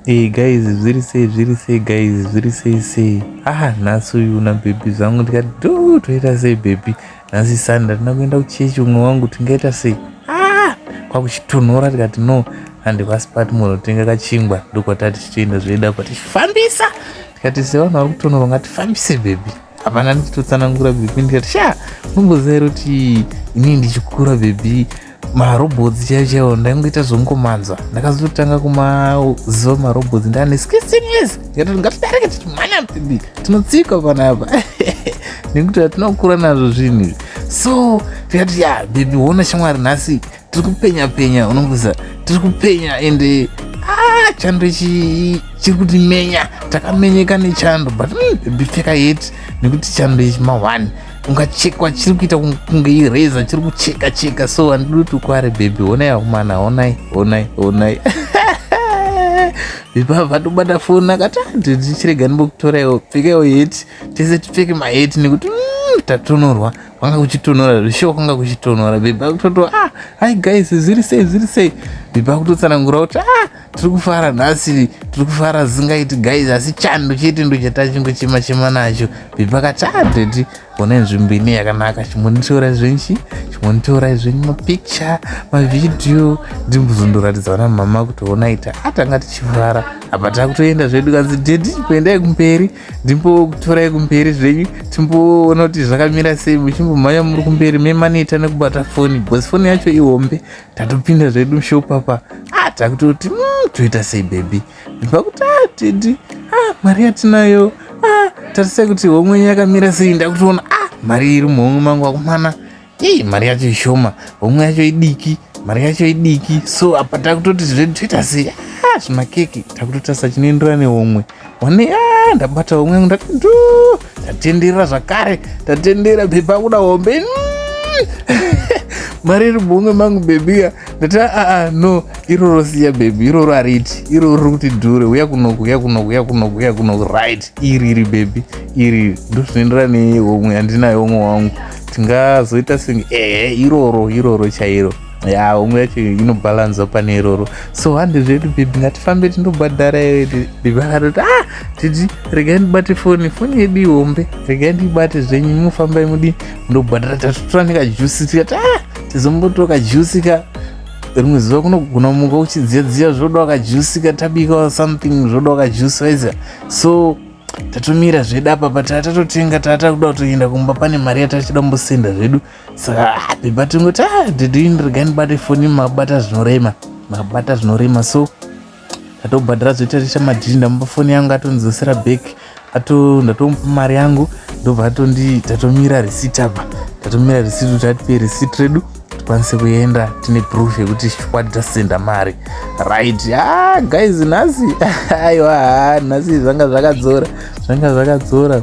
Hey guys, zviri sei zviri sei guys, zviri sei sei. Ah, nhasi uyu na baby zvangu ndikati do toita sei baby. Nhasi Sunday ndina kuenda kuchechi umwe wangu tingaita sei. Ah, kwakuchitonhora tikati no and kwasipati munhu tenga kachingwa ndokwatati tichienda zvoenda kwatifambisa tikati sevanhu vari kutonhora ngatifambise baby. hapana ndichitotsanangura bhebhi ndikati sha unomboziva here kuti inini ndichikura bhebhi marobhots chaiyo chaiwo ndaingoita zvongomanzwa ndakazototanga kumaziva marobhots ndaane skisinglis ndikatoti ngatidareke tichimhanya bhebhi tinotsika panapa nekuti hatinokura nazvo zvinhu izvi so tikati ya bhebhi wona shamwari nhasi tiri kupenya penya unongoza tiri kupenya ende ah, chando ichi chiri kuti menya takamenyeka nechando but mm, bipfeka yet nekuti chando ichi mahwani ungachekwa chiri kuita kunge ireza chiri kucheka cheka so handidi kuti ukware bhebhi honai akomana honai honai honai vipava vatobata foni akati ah, ndichirega ndimbokutoraiwo pfekaiwo heti tese tipfeke maheti nekuti mm, tatonhorwa kwanga kuchitonhora zvishuwa kwanga kuchitonhora bhebhi akutoto ah hi guys zviri sei zviri sei bhebhi akutotsanangura kuti ah tiri kufara nhasi tiri kufara zingaiti guys asi chando chete ndo chatachingo chema chema nacho bhebhi akati ah daddy ona nzvimbo ine yakanaka chimonitorai zvenchi chimonitorai zvenyu mapicture mavhidhiyo ndimbuzondoratidza vana mama kuti onaita atanga tichifara apa takutoenda zvedu kanzi daddy kuendai kumberi ndimbokutorai kumberi zvenyu timboona kuti zvakamira sei muchimbomhanya muri kumberi memaneta nekubata foni bcause foni yacho ihombe tatopinda zvedu mushopapa ah, takutoti mm, toita sei bebi ndipakuti ah, tidi ah, mari yatinayo ah, tarisai kuti homwe yenyu yakamira sei ndakutoona ah, mari iri muhomwe mangu akumana Hey, mari yacho ishoma homwe yacho idiki mari yacho idiki so apa takutoti zvedu toita sei ah, zvimakeke takutotarisa chinoenderana nehomwe one ah, ndabata homwe yangu ndatu tatenderera zvakare tatendera bhebha kuda hombe mari iri muhomwe mangu bhebia ndati aa ah, ah, no iroro siya bhebhi iroro ariti iroro riri kuti dhure uya kunoku uya kunoku uya kunoku uya kunoku right iri iri bhebhi iri ndozvinoenderana nehomwe handinayo homwe wangu tingazoita senge ehe iroro iroro chairo ya umwe yacho inobalanza pane iroro so hande zvedu bhibhi ngatifambe tindobhadhara ndibakatoti ah titi regai ndibate foni foni yedu ihombe regai ndibate zvenyu munofambai mudi ndobhadhara tatotora nekajusi tikati ah tizombotora kajusi ka rimwe zuva kunogona muka uchidziyadziya zvoda wakajusika tabika something zvoda wakajusika so tatomira zvedu apa but atatotenga taata kuda kutoenda kumba pane mari yatachida kumbosenda zvedu saka ah, bhebha tingoti ah, dedini regai ndibate foni mabata zvinorema mabata zvinorema so ndatobhadhara zvoitarisha madhiri ndamupa foni yangu atondidzosera back ato ndatomupa mari yangu ndobva atondi tatomira receipt apa tatomira receipt kuti atipe receipt redu tikwanise kuenda tine proof yekuti chikwadi tasenda mari right ah, guys nhasi aiwa nhasi zvanga zvakadzora zvanga zvakadzora